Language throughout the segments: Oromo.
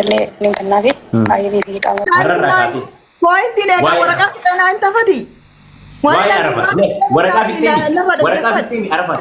Illee link naafi ayyanii fi hidhaama. Har'arraa kaasee. Pointiin egaa Waa'ee- waraqaa fixanaa hin tafati. Waa'ee arafat. Waraqaa fixxeemi. Waraqaa fixxeemi arafat.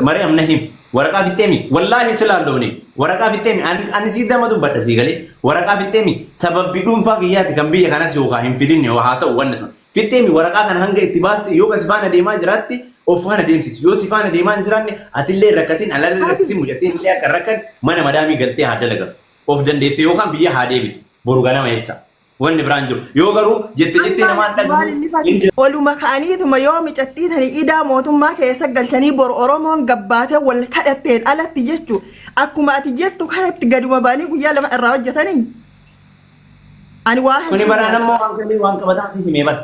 Mari'am na him. Waraqaa fixxeemi. Wallaahi hin silaalloofne. Waraqaa fixxeemi. Ani ani sii dama dubbadha sii galee. Waraqaa fixxeemi. Sababbi dhuunfaa kiyyaati kan biyya kanas yookaan hin fidinne yoo haa ta'u wanni sun. Fixxeemi waraqaa kana hanga itti baaste yoo kan si faana deemaa jiraatti of faana deemsisi. Yoo si faana deemaa hin jiraanne atillee rakkatiin alallee rakkatiin mucattiin illee akka rakkan mana madaamii galtee haa dalagan. of dandeette yookaan biyya haa deebitu boru ganama jecha wanni biraan jiru yoo garuu jette jette namaan dhagnu oluma ka'aniituma yoo micattii tani idaa mootummaa keessa galchanii boru oromoon gabbaatee wal kadhatteen alatti jechu akkuma ati jettu kanatti gaduma ba'anii guyyaa lama irraa hojjetanii ani waa kuni baraan ammoo waan qabataaf himee bara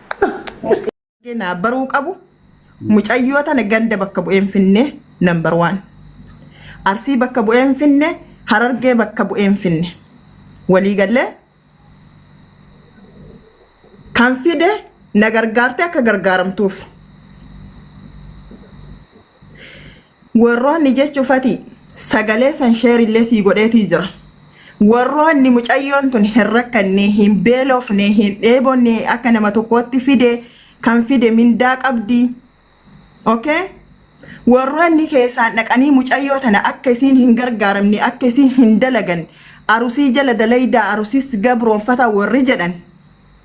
Naa baruu qabu mucayyoo tana ganda bakka bu'een finne number one. Arsii bakka bu'een finne harargee bakka bu'een finne. Walii gallee kan fide na gargaarte akka gargaaramtuuf. Warroonni jechu fati sagalee san share illee sii godheetii jira. Warroonni mucayyoon tun hin rakkanne, hin beelofne, hin dheebonne akka nama tokkootti fide kan fide mindaa qabdi. Okay? Warroonni keessaan dhaqanii mucayyoo tana akka isiin hin gargaaramne, akka isiin hin dalagan, arusii jala dalaydaa, arusis gabroonfata warri jedhan.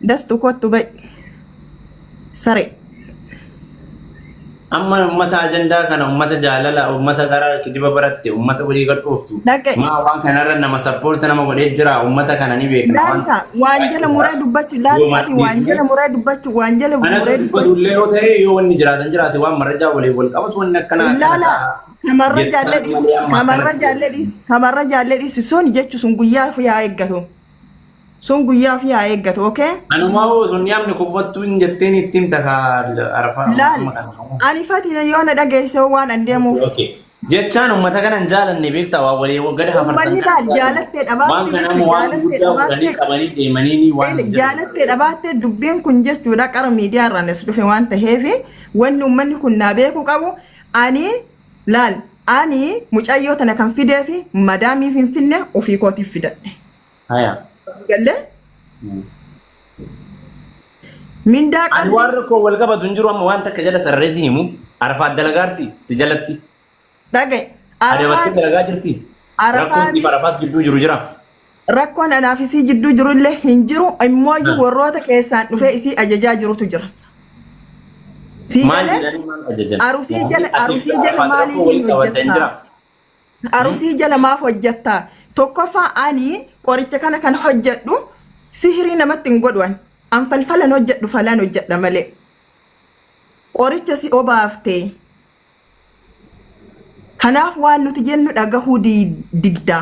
Dastu kottu gai. Sare. Amma ummata ajandaa kana ummata jaalala ummata gara kijiba baratte ummata walii gad dhooftu. Dhaga'i. Maa waan kanarra nama sappoorti nama godhee jira ummata kana ni beekna. waan- Laalta waan jala muree dubbachuu laaltaati waan jala muree dubbachuu waan jala Anatu muree dubbachuu. dubbatullee yoo ta'e yoo wanni jiraatan jiraate waan marrajaa waliin wal qabatu wanni akkanaa akkana Laala ta'a. kamarra Jettaan jaallee dhiisi malee amma kamarra akkanatti jaallee dhiisi kamarra jaallee dhiisi sun jechu sun guyyaa fi yaa eeggatu Sun guyyaa ofii haa eeggatu, okay? Anumaa hoo sun yaamni kubbottuu hin jetteen itti himta kaa arfaa Laal, amma kana qabu. ani fatina yoo na dhageesse hoo waan an deemuuf. Okay. Jechaan uummata kana hin jaalanne beektaa waa walii gad hafarsan. Uummanni laal jaalattee dhabaattee Waan kana jechuun immoo waan jaalattee guddaa fudhanii dhabaattee. qabanii deemanii ni waan hin jaalattee dhabaattee dubbiin kun jechuudha qara miidiyaa irraan as dhufe waan ta'eef wanni uummanni kun naa beekuu qabu ani Laal ani mucayyoo tana kan fidee fi madaamii finfinne ofii kootiif fidadhe. Haya. Galle Mm. mindaa Ani qabdi. waan rakkoo wal qabatu hin jiru amma waan takka jala sararee si himu. Arafaat dalagaarti si jalatti. Dhagaye. Adabattee Arafaat dalagaa jirti. Arafaat- Rakkoon siif arafaat gidduu jiru jira. Rakkoon anaa fi isii jidduu jiru illee hin jiru immooyyuu Ah. warroota keessaan dhufee isii ajajaa jirutu jira. Sii Maal galee jedhanii maal ajajan? arusii jala arusii jala maaliif hin hojjettaa? Arusii jala maaf hojjettaa? Tokkoffaa ani qoricha kana kan hojjedhu sihirii namatti hin godhu ani. An falfalan hojjedhu falan hojjedha malee. Qoricha si obaaftee Kanaaf waan nuti jennu dhagahuu didda.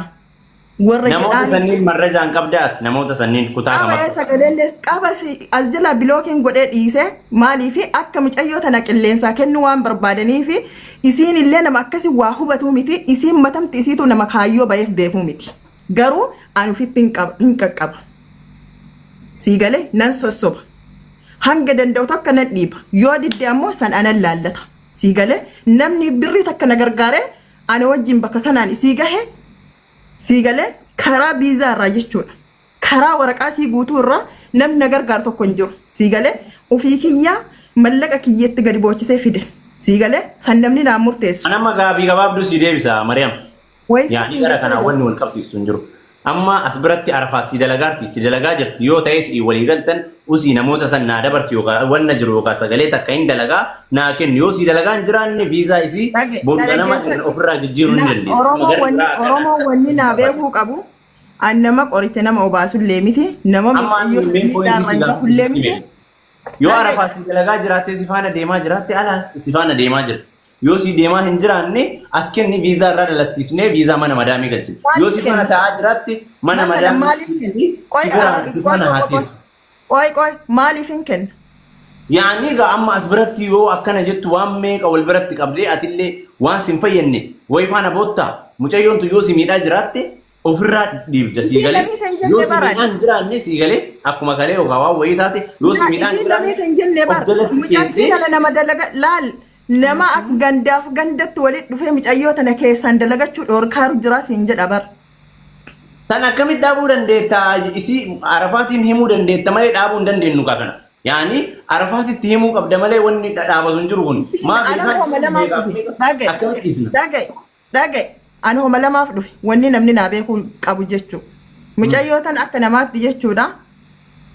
Warra Namoota jedhaanii sanniin marrajaan qabdaati. Namoota sanniin kutaa qaba kamarra. sagaleellees qaba si as jala bilookiin godhee dhiise maaliif akka micayyoo tana qilleensaa kennuu waan barbaadaniif isiin illee nama akkasi waa hubatuu miti isiin matamti isiitu nama kaayyoo baheef beekuu miti garuu an ofitti hin qaba- hin qaqqaba sii galee nan sossoba hanga danda'u tokko nan dhiiba yoo didde ammoo san anan laallata Sii galee namni birrii takka na gargaaree ana wajjin bakka kanaan isii gahe sii galee karaa biizaa irraa jechuudha. Karaa waraqaa sii guutuu irraa namni na gargaaru tokko hin jiru. Sii galee ofii kiyyaa mallaqa kiyyatti gadi boochisee fide. Sii galee san namni naan murteessu. An amma gaaffii gabaabduu sii deebisa Mariyam. Wayii Yaanii siin gara jechuu kanaa egaa. wanni wal qabsiistu hin jiru. Amma as biratti arafaa si dalagaarti si dalagaa jirti yoo ta'es walii galtan usii namoota san naa dabarsi yookaan wanna jiru yookaan sagalee takka hin dalagaa naa kenni yoo si dalagaa hin jiraanne viizaa isii Dhage- boru ganama dhaggeeffadhu. ofirraa jijjiiruu hin La- dandeessu. Amma Oromoo gara wanni biraa kana Oromoo wanni naa kana beekuu qabu an nama qoricha nama obaasullee miti nama amma mucayyoo ani mee miidhaa poointii si irraan gahullee miti. gaafadhu yoo Dhage- arafaa si dalagaa jiraattee si faana deemaa jiraatte ala si faana deemaa jirti. Yoo si deemaa hin jiraanne as kenni viizaa irraa dalassiisnee viizaa mana madaamii galchina. Yoo si faana ta'aa jiraatte mana Masalan maaliif madaamii kenna? si Qoy bira arabni si qoy faana qoy haa qoy qoy. teessu. Qoy qoy maaliif hin kenna? Yaani egaa amma as biratti yoo akkana jettu waan meeqa wal biratti qabdee atillee waan sin fayyadne wayi faana boottaa mucayyoon tun yoo si miidhaa jiraatte ofirraa dhiibda sii Isiin galee lamii kan jenne yoo si baran. miidhaan jiraanne sii galee akkuma kalee yookaan waan wayii taate yoo si Laal miidhaan isiin lamee jiraanne kan jenne of bar jalatti mucattii keessee kana nama dalaga laal nama akka gandaaf gandatti walitti dhufee mucayyoo tana keessaan dalagachuu dhoorkaaru jira siin jedha bar. san akkamitti dhaabuu dandeetta isii arafaatiin himuu dandeetta malee dhaabuu hin dandeenyu kaa kana. Yaani arafaatitti himuu qabda malee wanni dha- dhaabatu hin jiru kun. Maaf Ana isaan homa namaa beekaaf dhufe. beekaaf Dhagaye. akkamitti dhiisna? Dhagaye. Dhaga'i! Ani homa lamaaf dhufe. Wanni namni naa beekuu qabu jechu. Mucayyoo tan akka namaatti jechuudha.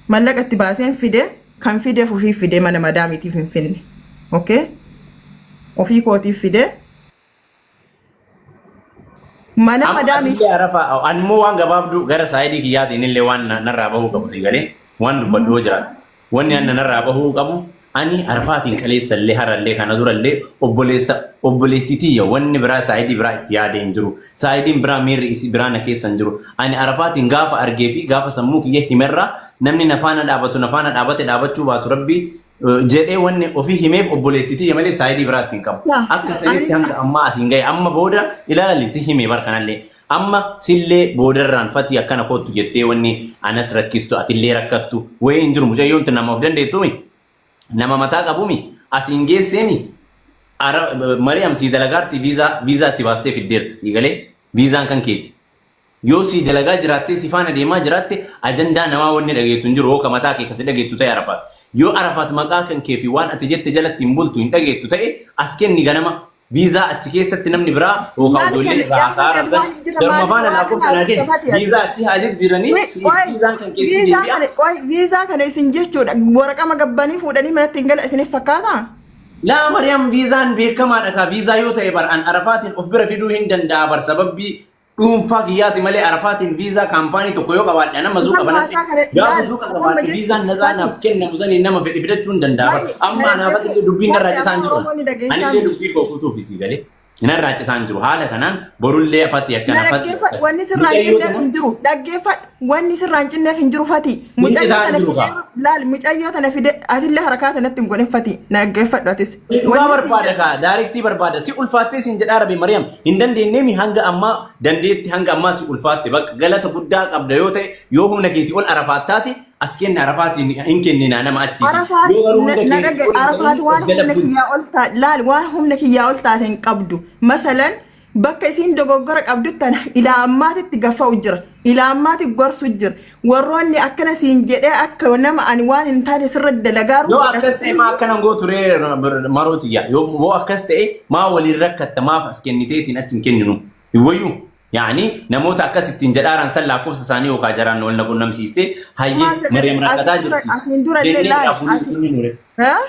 Mallaqa itti baaseen fide. Kan fideef ofiif fide mana madaamiitiif hin finne. Okay? Ofii kootiif fide. Mana Amma madaamii atillee arafa animmoo waan gabaabduu gara saayidii kiyyaatiin illee waan na- narraa bahuu qabu sii galee waan dubbadhu yoo jiraatu. Wanni an nanarraa bahuu qabu, ani Arfaatiin kaleessallee, harallee, kana durallee obboleessa obboleettii tiyya wanni biraa saayidii biraa itti yaadee hin jiru. Saayidiin biraa miirri isii biraa na keessa hin jiru. Ani Arafaatiin gaafa argee fi gaafa sammuu kiyya himerraa namni na faana dhaabatu na faana dhaabate dhaabachuu baatu Rabbii jedhee wanni ofii himeef obboleettii tiyya malee saayidii biraa itti hin qabu. Akka sanitti hanga ammaa asiin gahe. Amma booda ilaali si hime bar kanallee. Amma sillee boodarraan fatii akkana koottu jettee wanni anas rakkistu atillee rakkattu wayii hin jiru mucayyoon tun nama of dandeettumi nama mataa qabumi asiin geesseemi ara mariyam sii dalagaarti viizaa viizaa itti baastee fiddeerta sii galee viizaan kan keeti yoo sii dalagaa jiraattee si faana deemaa jiraatte ajandaa namaa wanni dhageettu hin jiru hooka mataa kee kasi dhageettu ta'e arafaat yoo arafaat maqaa kan kee fi waan ati jette jalatti hin bultu hin dhageettu ta'e as kenni ganama Viizaa achi keessatti namni biraa yookaan ijoollee irraa haasaa arabsan jaruma faana lakkoofsa naa kenni. Viizaa achi haa jijjiiranii viizaan kan keessi deebi'a. Viizaa kana isin jechuudha waraqama gabbanii fuudhanii manatti hin gala isiniif fakkaata? Laa Mariyaam viizaan beekamaadha kaa viizaa yoo ta'e bar an arafaatiin of bira fiduu hin danda'a bar sababbii dhuunfaa kiyyaati malee arafaatiin viizaa kaampaanii tokko yoo qabaadhe nama zuuqa banadhe gaafa zuuqa qabaadhe viizaan nazaa naaf kennamu saniin nama fedhe fidachuu hin danda'a bara amma anaafatti illee dubbiin narraa citaan jiru ani illee dubbii koo kutuu fi sii galee narraa citaan jiru haala kanaan borullee afatti akkana afatti wanni sirraa hin kenneef hin jiru dhaggeeffadhu Wanni sirraan cinneef hin jiru fatii. Hin Mucayyoo citaan tana jiru fidee kaa. laal mucayyoo tana fidee atillee harakaa tanatti hin goone fatii. Na dhaggeeffadhu atis. Dhugaa Wanni sii barbaada jedhu- kaa daariktii barbaada si ulfaattee siin jedhaa rabi Mariyaam hin dandeenyee mi hanga ammaa dandeetti hanga ammaa si ulfaatte bakka galata guddaa qabda yoo ta'e yoo humna keetii ol arafaattaati as kenna arafaatiin hin kenninaa nama achiiti Arafaat yoo garuu hunda na keetii dhagge ol Arafaat waan jala humna bulti. kiyyaa ol taate laal waan humna kiyyaa ol taate hin qabdu. Masalan Bakka isiin dogoggora qabdu tana ilaa ammaatitti gaffa'u jira. Ilaa ammaati gorsu jira. Warroonni akkana siin jedhee akka nama ani waan hin taane sirra dalagaaru Yoo akkas ta'e maa akkana hin gootu ree maroo tiyya. Yoo yoo akkas ta'e maa waliin rakkatta maaf as kenniteetiin achi hin kenninu. Hin wayyu. Yaani namoota akkas ittiin jedhaaran san lakkoofsa isaanii yookaan jaraan wal na qunnamsiistee hayyee Maariyaam rakkataa jirti. Asiin dura illee Jennee laal. dhaabuu Asiin- hin kenninu ree. Haa?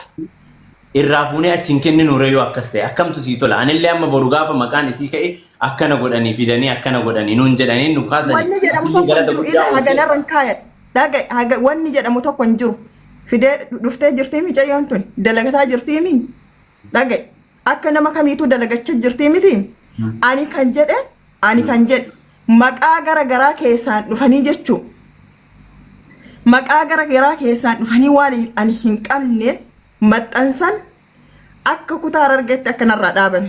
irraa fuunee achi hin kenninu ree yoo akkas ta'e akkamtu sii tola anillee amma boru gaafa maqaan isii ka'e akkana godhanii fidanii akkana godhanii nuun jedhanii nu kaasanii Wanni jedhamu atillee tokko hin galata jiru. guddaa Ilaa hagana irra hin kaayadhu. Dhaga haga wanni jedhamu tokko hin jiru. Fidee dhuftee jirtii micayyoon tun dalagataa jirtii mii? Dhaga'i. Akka nama kamiituu dalagacha jirtii miti ani kan jedhe ani kan jedhe maqaa gara garaa keessaan dhufanii jechuu maqaa gara garaa keessaan dhufanii waan hin- ani hin qabne maxxansan akka kutaa harargeetti akka narraa dhaaban.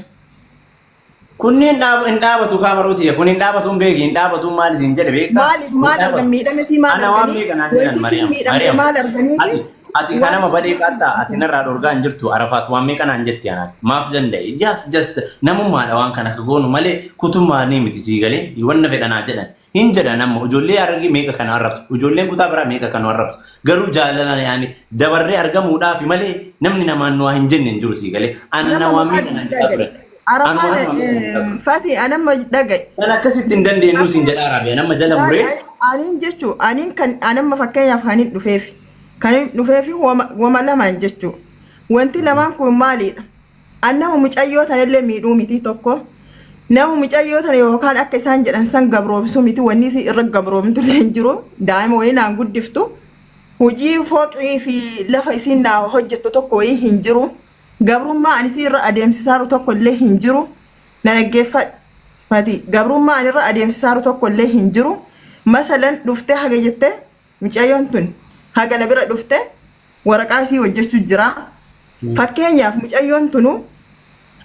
Kunni hin dhaab- hin dhaabatu kaa maruu tiyya kun hin dhaabatu hin beeki hin dhaabatu maal isin jedhe beektaa? Maaliif Hin maal dhaabatu. argan miidhame sii maal Ana waan arganii beekan haa jedhan wanti Mariyaam. siin miidhamte Mariyaam. maal arganiiti Ati ati kan nama badee qaattaa ati narraa dhorgaa hin jirtu arafaat waan meeqa naan jetti anaan maaf danda'e just just namummaadha waan kana akka goonu malee kutummaa ni miti sii galee wanna fedhanaa jedhan Hin jedhan amma ijoollee Harargee meeqa kan arrabsu, ijoolleen kutaa biraa meeqa kan nu arrabsu. Garuu jaalalaan yaani dabarree argamuudhaafi malee namni namaan nu waa hin jenne hin jiru sii galee. Ana Nama namaan maqaa miidha naan jedhaa dhagaye. turan. Arafaa Anumaan nama miidha naan jedhaa turan. Fati anamma dhagaye. Kan akkasitti hin dandeenyu siin jedhaa Raabiyaan amma jala Fati muree aniin jechu aniin kan anamma fakkeenyaaf kan hin dhufeefi. Kan hin dhufeefi wama wama lamaan jechu. Wanti lamaan kun maalidha? An nama mucayyoo tanallee miidhuu miti tokko nama mucayyoo tana yookaan akka isaan jedhan san gabroomsuu miti wanni isii irra gabroomtu illee hin jiru daa'ima wayii naan guddiftu hojii fooqii fi lafa isiin naa hojjettu tokko wayii hin jiru gabrummaa an isii irra adeemsisaaru tokko illee hin jiru na dhaggeeffadhu mati gabrummaa an irra adeemsisaaru tokko illee hin jiru masalan dhuftee haga jettee Mucayyoon tun haga na bira dhufte waraqaa isii hojjechu jira. Fakkeenyaaf mucayyoon tunu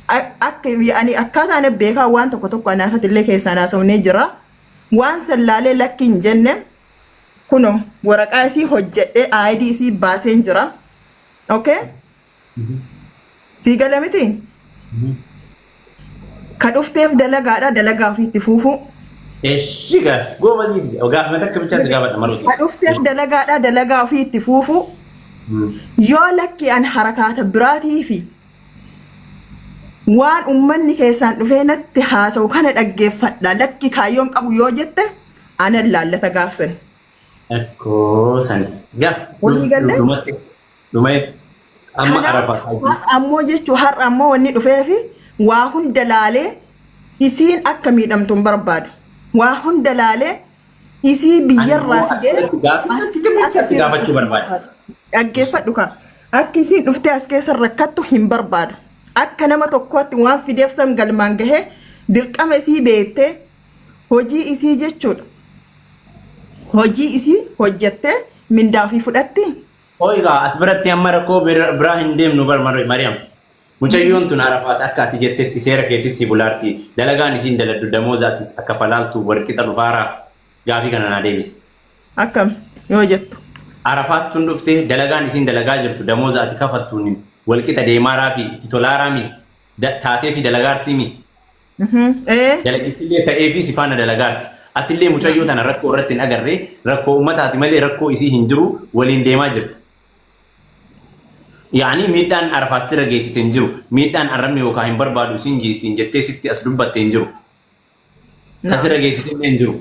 a- akka ani akkaataa na beekaa waan tokko tokko anaafatillee keessaan haasofnee jira. Waan san laalee lakki hin jenne kuno waraqaa isii hojjedhee aayidii isii baaseen jira. Okay? Sii gale miti? Ka dhufteef dalagaadha dalagaa ofii itti fuufuu. Eshi ga goba zidi. Ga mata ka bicha ga bada maruti. Ka dhufteef dalagaadha dalagaa ofii itti fuufuu. Yoo lakki an harakaata biraatii fi waan ummanni keessaan dhufee natti haasa'u kana dhaggeeffadha lakki kaayyoon qabu yoo jette anan laallata gaafsan. Ekko sani. Gaf. Walii galle? Dumatti. Dhumee amma Kanaaf arafataa jiru. har'a ammoo jechuun har'a ammoo wanni dhufee fi waa hunda laalee isiin akka miidhamtu hin barbaadu. Waa hunda laalee isii Ani biyyarraa immoo fidee asirratti gaaffii as keessa sirriitti akka as isiin gaafachuu rakkattu hin barbaada. barbaadu. Dhaggeeffadhu kaa. Akka isiin dhuftee as keessa rakkattu hin barbaadu. Akka nama tokkootti waan fideef san galmaan gahee dirqama isii beektee hojii isii jechuudha. Hojii isii hojjettee mindaa ofii fudhatti. Hooyi kaa as biratti amma rakkoo bir- biraa hin deemnu bar Mar- Mariyaam. Mucayyoon tun arafaat akka ati jettetti seera keetis si bulaarti. Dalagaan isiin daladdu damooza atis akka falaaltu warqixa dhufaaraa. Gaafii kana naa deebisi. Akkam yoo jettu. Arafaat tun dhufte dalagaan isiin dalagaa jirtu damooza ati kafaltuun walqixa deemaaraa fi itti tolaaraa mi? Da- taatee fi dalagaartii mi? Dalagattillee ta'ee fi sifaana dalagaatti. Atillee mucayyoo tana rakkoo irratti hin agarre rakkoo ummataati malee rakkoo isii hin jiru waliin deemaa jirta. Yaani miidhaan arafaas sira geessite hin jiru. Miidhaan arrabni yookaan hin barbaadu isin jiisiin jettee sitti as dubbatte hin jiru. Kan sira geessite illee hin jiru.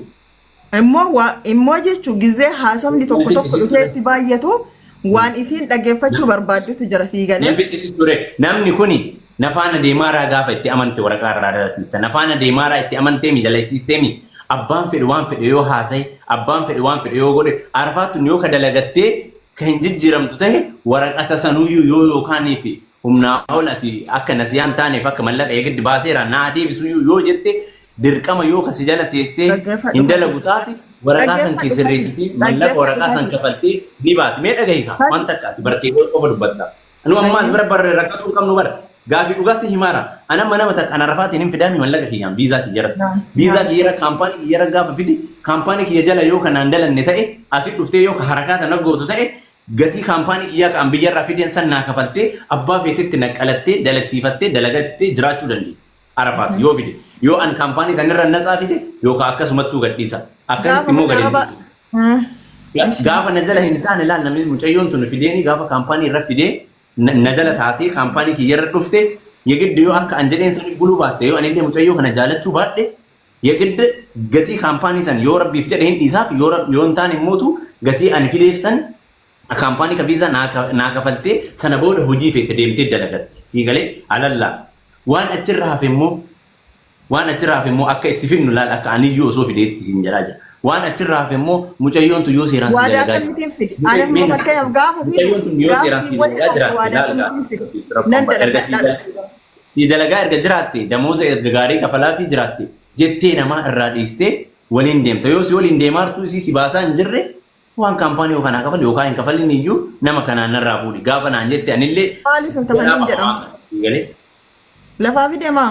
Immoo waa immoo jechuun gizee haasofni tokko tokko dhufee itti baay'atu waan isiin dhaggeeffachuu barbaaddutu jira sii galee. Namtichi si ture namni kuni na faana deemaaraa gaafa itti amante waraqaa irraa dalasiista. Na faana deemaaraa itti amanteemi dalaysiisteemi abbaan fedhe waan fedhe yoo haasaye abbaan fedhe waan fedhe yoo godhe arfaattuun yoo ka dalagattee ka hin jijjiiramtu ta'e waraqata sanuyyuu yoo yookaaniif humnaa ol ati akka nasiyaan taaneef akka mallaqa eegiddi baaseera naa deebisuyyuu yoo jette dirqama yoo ka si jala teessee Dhaggeeffadhu hin dalagu hajii. taate waraqaa kan Dhaggeeffadhu kee hajii. sirreessitee mallaqa Dhaggeeffadhu waraqaa san hajii. kafaltee ni baati. Mee dhagahi kaa Hajii. waan takka ati bartee qofa dubbatta. Anu amma as Hajii. bira barree rakkachuu hin qabnu bara. Gaafii dhugaa si himaara. Ana amma nama takka ana rafaatiin hin fidaami mallaqa kiyyaan viizaa kiyyara. Naam, Viizaa naam. kiyyara kaampaanii kiyyara gaafa fide kaampaanii kiyya jala yoo kanaan dalanne ta'e asi dhuftee yoo ka harakaata na gootu ta'e gatii kaampaanii kiyyaa kan biyyarraa fideen san naa kafaltee abbaa feetetti naqqalattee dalagsiifattee dalagattee jiraachuu dandeetti. Arafaat yoo fide yoo an kaampaanii sanirra natsaa fide yookaan akkasumattuu gadhiisa akkasitti immoo gadi araba gaafa na jala hin taane laal namni mucayyoon tun fideeni gaafa kaampaanii irra fidee na jala taatee kaampaanii kiyyarra dhufte yegidde yoo akka an jedheen sani buluu baatte yoo anillee mucayyoo kana jaalachuu baadhe yegidde gatii kaampaanii san yoo rabbiif jedhe hin dhiisaaf yoo hin taane immootu gatii ani fideef san Kaampaanii ka viizaa naa ka- naa kafaltee sana booda hojii feete deemtee dalagatti. Sii galee alallaa. Waan achirra hafe immoo waan achirra hafe immoo akka itti fidnu laal akka aniyyuu osoo fideetti siin jedhaa jira. Waan achirra hafe immoo mucayyoon tun yoo seeraan sii Waadaa dalagaa jirti. akkamitiin fide? Ani Mee amma na- fakkeenyaaf gaafa fidu Mucayyoon tun yoo gaafa seeraan sii sii waliin dalagaa hafe jiraatte waadaa laal akkamitiin fide? gaafa. Rakkoon Nan bara. Erga sii dalagadhaa dal- jechuudha. sii dalagaa erga jiraatte damooza erga gaarii kafalaa fi jiraatte jettee namaa irraa dhiistee waliin deemta. Yoo si waliin deemaartuu isii si baasaa hin jirre waan kaampaanii yoo kanaa kafali yookaan hin kafalin iyyuu nama kanaan narraa fuudhi gaafa naan jette anillee Maaliif hin kafalin jedhama? Galee. Lafaa fi demaa.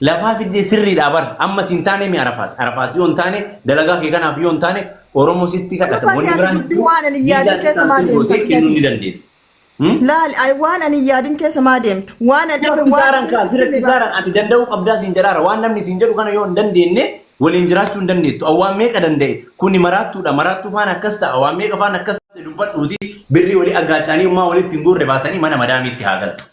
lafaa fiddee sirriidhaa bar amma siin taane mi arafaat arafaat yoo hin taane dalagaa kee kanaaf yoo hin taane oromoo sitti kadhata Arafaat wanni yaadu biraan dubbii waan ani yaadu keessa maal deemta? kennuun ni dandeessa. Hmm? Laal ay- waan ani hin yaadin keessa maa deemta? Waan ani Sirra dhufe waan kisaaran kaa sirra hime kisaaran ati danda'uu qabdaa siin jedhaara waan namni siin jedhu kana yoo hin dandeenye waliin jiraachuu hin dandeettu awwaan meeqa danda'e kuni maraattuudha maraattuu faana akkas ta'a awwaan meeqa faana akkas ta'a dubbadhuuti birrii walii aggaacaanii ummaa walitti hin guurre baasanii mana madaamiitti haa galtu.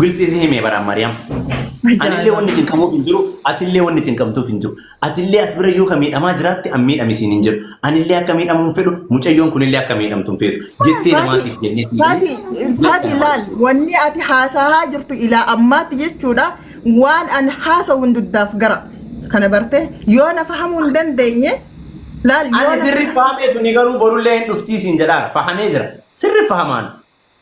Gilxii si himee baraan Maariyaam. Anillee wanni cinqamuuf hin jiru, atillee wanni cinqamtuuf hin jiru. Atillee as bira yoo ka miidhamaa jiraatte an miidhame siin hin jedhu. Anillee akka miidhamu hin fedhu, mucayyoon kunillee akka miidhamtu hin feetu. Jettee namaatiif jennee siin Fati, jedhee Fati jettee laal, wanni ati haasahaa jirtu ilaa ammaatti jechuudha, waan an haasawu hin duddaaf gara. Kana bartee, yoo na fahamuu hin dandeenye, laal, yoo Ani na... sirri fahameetu ni garuu borullee hin dhuftii siin jedhaara. Fahamee jira. Sirri fahamaan.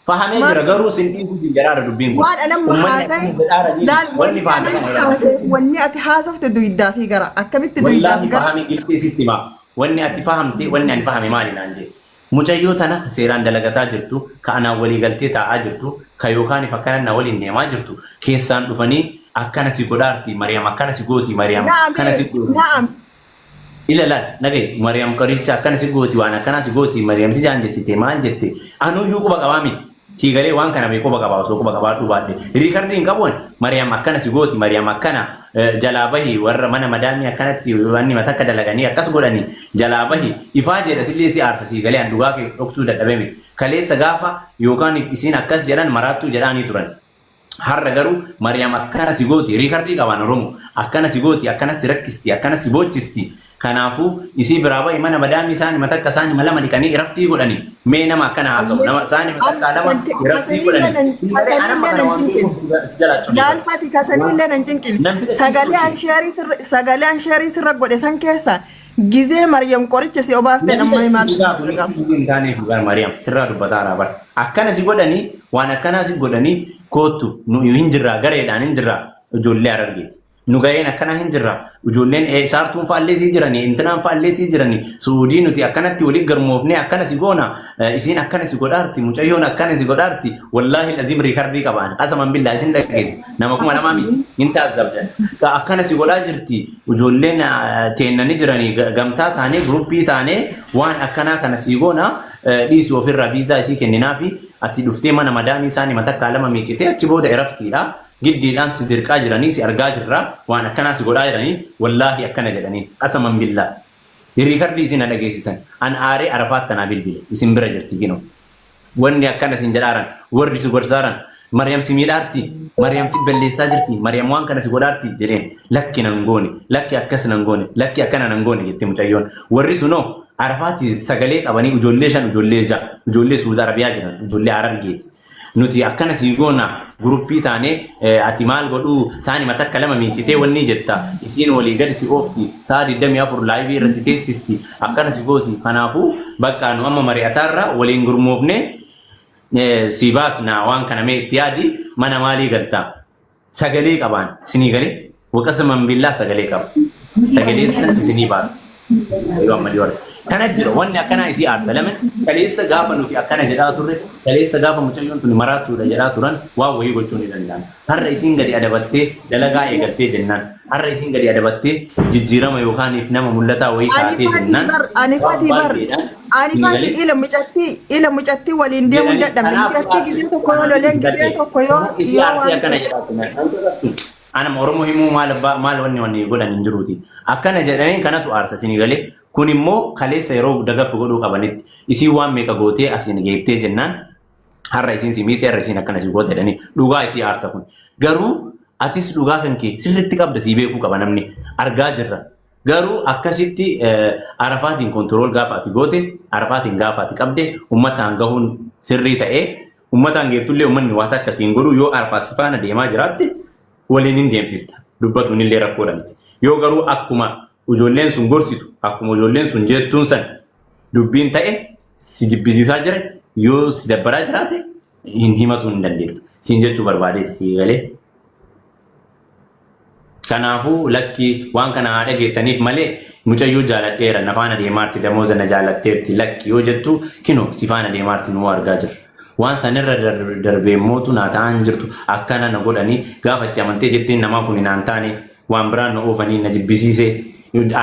Fahamee Maal- jira garuu sin dhiibu sin jedhaara dubbiin kun. Waan alamma Ummanni haasa'e akkuma jedhaara jiru laal wanni wanni fahame alamma kana haasa'e jedhaara. wanni ati haasofte duydaa fi gara akkamitti duydaa Wallaahi fi gara fahame giltee sitti himaa. Wanni ati fahamte wanni ani fahame maali naan jee. Mucayyoo tana ka seeraan dalagataa jirtu ka anaan walii galtee taa'aa jirtu ka yookaan fakkana na waliin deemaa jirtu keessaan dhufanii akkana si godhaarti Mariyaam akkana si gooti Mariyaam Naam kana si gooti. naam Ila laal nagay Mariam qoricha akkana si gooti waan akkanaa si gooti Mariam si daangessite maal jette anuu iyyuu quba qabaa miti sii galee waan kana bee quba qabaa osoo quba qabaadhuu baadhe riikardii hin qabu ani Mariam akkana si gooti Mariam akkana eh, jalaa bahi warra mana madaamii akkanatti wanni mata akka dalaganii akkas godhanii jalaa bahi ifaa jedha sillee si aarsa sii galee an dhugaa kee dhoksuu dadhabee miti kaleessa gaafa yookaan isiin akkas jedhan maraattuu jedhaanii turan Har'a garuu Mariyaam akkana si gooti riikardii qabaan Oromoo akkana si gooti akkana si rakkisti akkana si boochisti kanaafuu isii biraa ba'i mana madaamii saanima takka saanima lama dhiqanii iraftii godhani mee nama akkana haasa'u nama saanima takka lama iraftii godhani malee anamma kana waan beekuuf si jalaa cunqursa. Laalfati kasaniillee nan cinqine. Namticha Sagalee ciisuuti. ansheerii sirra- sagalee ansheerii sirra godhe san keessa Gizee Maryam qoricha si obaafte Namni dhamma himaatu dhugaa kun argama. hundi hin taaneef dhugaa Maariyaam sirraa dubbataa irraa bara. Akkana si godhanii waan akkanaa si godhanii koottu nu hin jirraa gareedhaan hin jirraa ijoollee arargeeti. Nu gareen akkanaa hin jirraa ijoolleen eh, saartuun faallee sii jiranii intinaan faallee sii jiranii suudii nuti akkanatti walii garmoofnee akkana si goona eh, isiin akkana si godhaarti mucayyoon akkana si godhaarti wallaahi aziim riikardii qabaan qasaman billaa isin dhageessi nama kuma lamaa miti hin taasisabdan akkana si godhaa jirti Ijoolleen teenna ni jiranii gamtaa taanee guruppii taanee waan akkanaa kana sii goona dhiisii ofirraa viizaa isii kenninaafi ati dhuftee mana madaamii isaanii matakkaa lama miicitee achi booda eraftiidha giddiidhaan si dirqaa jiranii si argaa jirra waan akkanaa si godhaa jiranii wallaahi akkana jedhaniin qasaman billaa riikardii isin na dhageessisan an aaree arafaat tanaa bilbile isin bira jirti kinoo. Wanni akkana sin jedhaaran, warri si gorsaaran, Maryam si miidhaarti, Maryam si balleessaa jirti, Maryam waan kana si godhaarti jedheen. Lakki nan goone, lakki akkas nan goone, lakki akkana nan goone jette mucayyoon. Warri sunoo Arafaati sagalee qabanii ijoollee shan, ijoollee ja'a, ijoollee Suud Arabiyaa jiran, ijoollee Harargeeti. Nuti akkana sii goona guruppii taanee eh, ati maal godhuu saanima takka lama miicitee wanni jetta isiin walii gad si oofti sa'a 24 laayivii irra si teessisti Akkana si gooti kanaafu bakka nu amma mari'ataarra waliin gurmoofne si baasna waan kana mee itti yaadi mana maalii galta sagalee qabaan sinii galee waqasa manbillaa sagalee qaba sagalee san isinii baasa yoo amma jiru kana jira wanni akkanaa isii aarsa lamin kaleessa gaafa nuti akkana jedhaa turre kaleessa gaafa mucayyoon tuni maraattuudha jedhaa turan waan wayii gochuu ni danda'an Har'a isiin gadi adabattee dalagaa eegaltee jennaan, har'a isiin gadi adabattee jijjiirama yookaaniif nama mul'ataa wayii Ani taatee fati jennaan bar, ani waan fati bar. baay'eedhaan Ani isinii fati galee ila mucattii, ila mucattii waliin deemuu hin jedhanii dadhabne. kanaaf Mucattii aartii gizee tokko yoo aartii loleen gizee darbee tokko yoo kanaaf isii yoo aartii waan akkana ta'e. jedhaa turan kan kakaftu anama oromoo himuu maal abbaa maal wanni wanni godhan hin jiruuti akkana jedhanii kanatu aarsa isinii galee kun immoo kaleessa yeroo dagaffi godhuu qabanitti isiin waan meeqa gootee asiin geettee jennaan har'a isiin si miite har'a isiin akkana si goote jedhanii dhugaa isii aarsa kun garuu atis dhugaa kan kee sirriitti qabda sii beekuu qaba namni argaa jirra garuu akkasitti eh, arafaatiin kontirool gaafa ati goote arafaatiin gaafa ati qabde ummataan gahuun sirrii ta'ee ummataan geettullee ummanni waa takka siin godhu yoo arafaa si faana deemaa jiraatte waliin hin deemsista dubbatuun illee rakkoodha miti yoo garuu akkuma ijoolleen sun gorsitu akkuma ijoolleen sun jettuun san dubbiin ta'e si jibbisiisaa jira yoo si dabbaraa jiraate hin himatuu hin dandeettu. Siin jechuu barbaadeeti sii galee. Kanaafuu lakki waan kana haa dhageettaniif malee mucayyoo jaaladheera na faana deemaarti damooza na jaalatteerti lakki yoo jettu kino si faana deemaarti nuu argaa jirra. Waan sanirra darbee mootu naa ta'an jirtu akkana na godhanii gaafa itti amantee jetteen namaa kun naan taane waan biraan na oofanii na jibbisiisee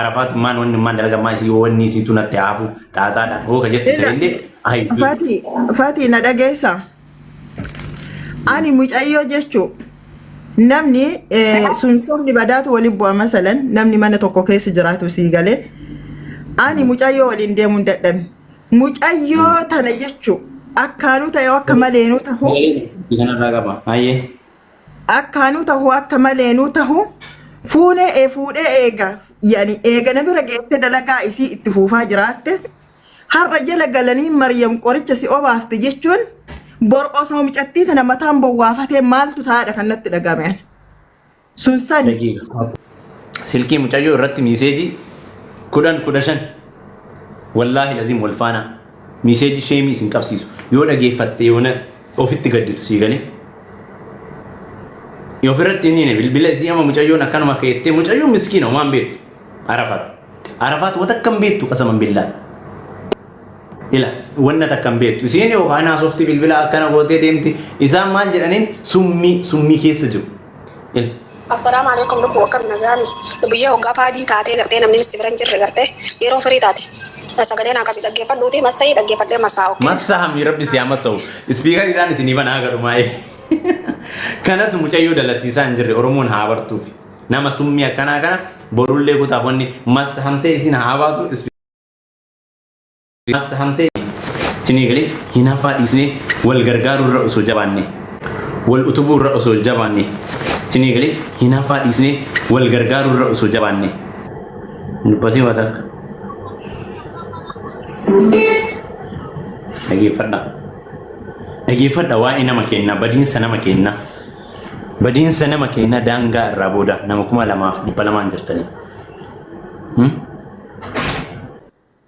arafaatu maan wanni maan dalaga maa isii wanni isii tu natti haafu xaaxaadha hooka jettu Ila- ta'ellee ayi Fati, Fati na dhageessa. Ani mucayyoo jechuun namni eh, sun sabni badaatu waliin bu'a masalan namni mana tokko keessa jiraatu sii galee ani mucayyoo waliin deemuun dadhabe. Mucayyoo tana jechuun akkaanuu ta'e akka maleenuu ta'u kanarraa qaba ayyee Akkaa nu tahu akka malee nu tahu fuunee ee fuudhee eega yani eega na bira geette dalagaa isii itti fuufaa jiraatte har'a jala galanii Maryam qoricha si obaafte jechuun bor osoo mucattii tana mataan bowwaafatee maaltu taa'adha kan natti dhaga'ame ani. Sun sani. Daqiiqa. silkii mucayyoo irratti miiseejii kudhan kudha shan wallaahi laziim wal faana miiseejii sheemii isin qabsiisu yoo dhageeffatte yoona ofitti gadditu sii galee yoo ofirratti hin hine bilbila isii ama mucayyoon akkanuma keettee mucayyoon miskiina waan beektu arafaat arafaat wata akkam beektu qasaman billaa ila wanna takkan beektu isiin yookaan haasofti bilbila akkana gootee deemti isaan maal jedhaniin summii summii keessa jiru L. Assalaamu Aleeykum lubbuu akkami nagaami lubbiyyee hoggaa paadii taatee gartee namni si bira hin jirre gartee yeroo firii taate sagalee naa qabi dhaggeeffadhuuti massayii dhaggeeffadhee massaa ok. Massa hammi rabbi si hamassahu. Ispiikariidhaan isinii banaa garumaa'ee. Kanatu mucayyoo dalasiisaa hin jirre Oromoon haa bartuuf. Nama summii akkanaa kana borullee kutaaf wanni massa hamtee isin haa baatu. As hamtee isin eegale hinaaffaa dhiisnee wal gargaaruu irra osoo jabaanne wal utubuu irra osoo jabaanne isin eegale hinaaffaa dhiisnee wal gargaaruu irra osoo jabaanne. Dubbatee waa takka. Dhageeffadha. Dhageeffadha waa'ee nama keenna badiinsa nama keenna badiinsa nama keenna daangaa irraa booda nama kuma lamaaf dhibba lamaan jirtanii. Hmm?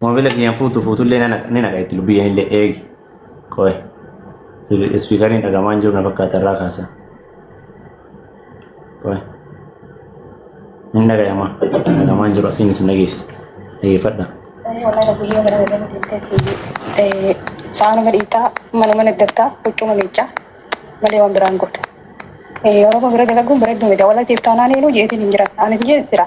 Moobila kiyyaan fuutu fuutullee na naqa- ni naqa itti lubbiyyeen illee eegi. Qoy. Ispiikariin dhagamaa hin jiru na fakkaata irraa kaasa. Qoy. Hin dhagayama. Dhagamaa hin jiru asiin isin dhageessisa. Dhageeffadha. Saana madhiitaa mana mana addattaa huccuma miiccaa malee waan biraan gootu. Oromoo bira dalaguun bareedduu miti. Wala siif taanaan eenyu jeetiin hin jiran. Ani jeetiin jira.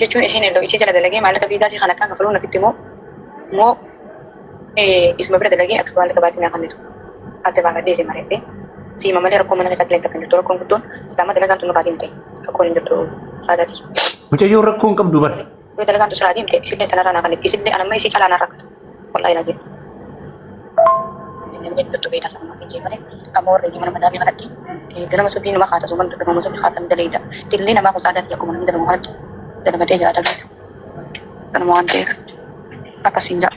jechuun isiin ello isii jala dalagee maallaqa fiigaatii kan akkaan kafaluun ofitti moo moo isuma bira dalagee akka maallaqa baadii naa kennitu adda baafadhee isii mari'adhee siima malee rakkoo mana keessaa illee takka hin jirtu rakkoon guddoon islaama dalagaan tun nurraa deemte rakkoon hin jirtu saadaati. Mucayyoon rakkoo hin qabdu bar. Yoo dalagaan tun sirraa deemte isillee tanarraa naa kennitu isillee anamma isii calaa naa rakkatu. Wallahi raajii. Inni biyya dhibbattu beekaa sana mafi jee malee amma warri mana madaa mi'a kanatti ganama subii nama haata suman ganama subii haatan daleeyda. Dillee namaa kun saadaa fi akkuma namni dalagu kanatti dalagatee jiraata beeka. Kanuma waan ta'eef akkasiin ja'a.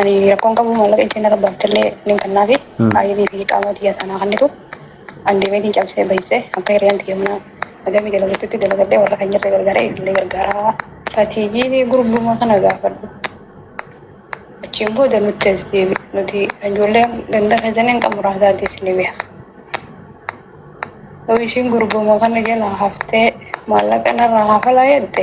Ani rakkoon qabu maallaqa isiin irra baaftillee nin kannaafi Hmm. baay'ee fi qaama biyya sanaa hannitu an deemeetiin cabsee bahisee akka hiriyaan tiyya mana madamii dalagattutti dalagadhee warra kan jirre gargaaree illee gargaaraa. Fatiijii gurbuma kana gaafadhu. Achiin booda nutti as deebi. Nuti ijoollee ganda keessaniin kan muraasaa deessinee beeka. Yoo isiin gurbuma kana jalaa haftee maallaqa narraa hafalaa jette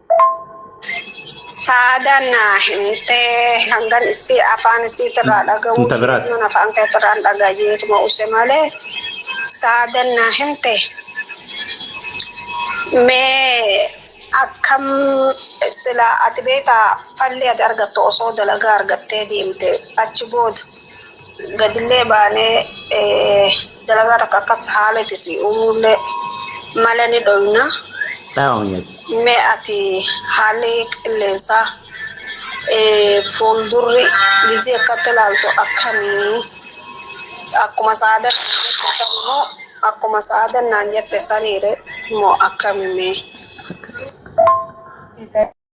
Saadaan naa himtee hangan isii afaan isiitirraa dhaga'uu Inta biraati. jeetuun afaan keetirraan dhagaa jeetuma use malee saadaan naa himte mee akkam sila ati beektaa falli ati argattu osoo dalagaa argattee deemte achi booda gadillee baanee eh, Dalagaa takka akkas haaletti si uumullee mala ni dhoyna. Dhaawamiyati. Mee ati haalli qilleensaa eh, fuuldurri gizii akkatti ilaaltu akkamii? Akkuma sa'aadan naan jette san moo akkuma sa'aadan naan jette saniire moo akkamii mee? Akka-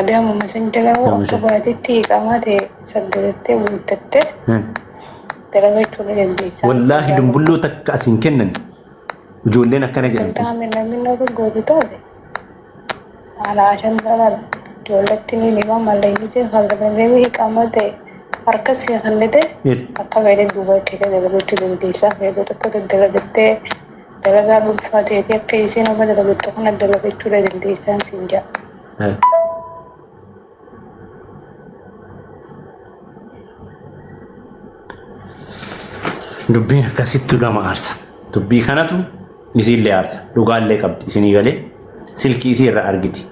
Adaamuma san jalaa hoo akka baatitti iqaamaa ta'e saggatattee guuttattee dalagachuu ni dandeessa. Wallaahi dumbulloo takka as hin kennan ijoolleen akkana jedhan. Taame namni akka gootu taate haala ashan talaan ijoolletti ni hima mallaynichi kalaqamee iqaamaa ta'e harka si kennite akka fedhe duuba keessa dalagachuu dandeessa. Fedhuu tokko dalagattee dalagaa dhuunfaa ta'eeti akka isiin amma dalagattu kana dalagachuu dandeessaan siin jedha. Eh. Dubbiin akkasittu nama aarsa. Dubbii kanatu isiillee aarsa. Dhugaallee qabdi isinii galee. Silkii isii irra argiti.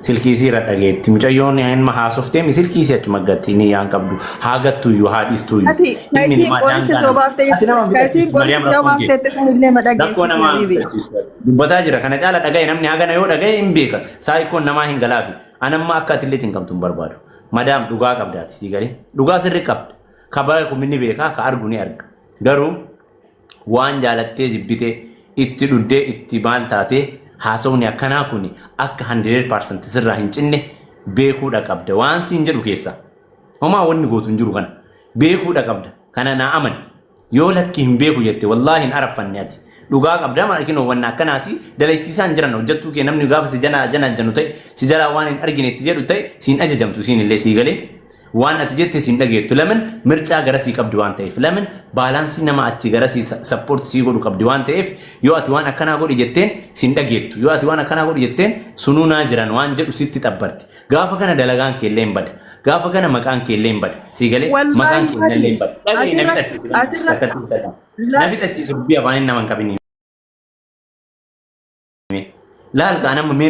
Silkii isii irra dhageetti. Mucayyoon ilma haasoftee mi silkii isii achuma gatti ni yaan qabdu. Haa gattu iyyuu haa dhiistu iyyuu. Ati ka Ilmi isiin namaa qoricha daangaa soo nama. baaftee Ati nama ka isiin bitachiisu Mariyaam qoricha soo rakkoon kee. baaftee san illee ma Rakkoo dhageessisi namaa habiibi. bitachiisu. Dubbataa jira kana caala dhagaye namni hagana yoo dhagaye hin beeka. Saayikoon namaa hin galaafi. Anamma akka ati illee cinqamtu hin barbaadu. Madaam dhugaa qabdaati sii galee. Dhugaa sirri qabda. Ka bara kun ni beeka ka argu ni arga. Garuu waan jaalattee jibbitee itti dhuddee itti maal taatee haasofni akkanaa kun akka 100% sirraa hin cinne beekuudha qabda waan siin jedhu keessaa homaa wanni gootu hin jiru kana beekuudha qabda kana naa amani yoo lakki hin beeku jette wallaahi hin araffanne ati dhugaa qabda maal kinoo wanna akkanaati dalaysiisaa hin jiran hojjattuu kee namni gaafa si jana jana janu ta'e si jalaa waan hin argine itti jedhu ta'e siin ajajamtu siin illee sii galee Waan ati jettes hin dhageettu. Lamin mircaa garasii qabdi waan ta'eef. Lamin baalaansii nama achi garasii sappoorti sii godhu qabdi waan ta'eef yoo ati waan akkanaa godhi jetteen sin dhageettu. Yoo ati waan akkanaa godhi jetteen sunuu naa jiran waan jedhu sitti xabbarti. Gaafa kana dalagaan keellee hin bada. Gaafa kana maqaan keellee hin bada. Sii galee maqaan Wallaahi keellee hin bada. Dhagahi na asirratti fixachiisi. Na asirratti fixachiisi. Na laal fixachiisi. Dubbii afaaniin nama hin qabiniin. Laal kaa nama mee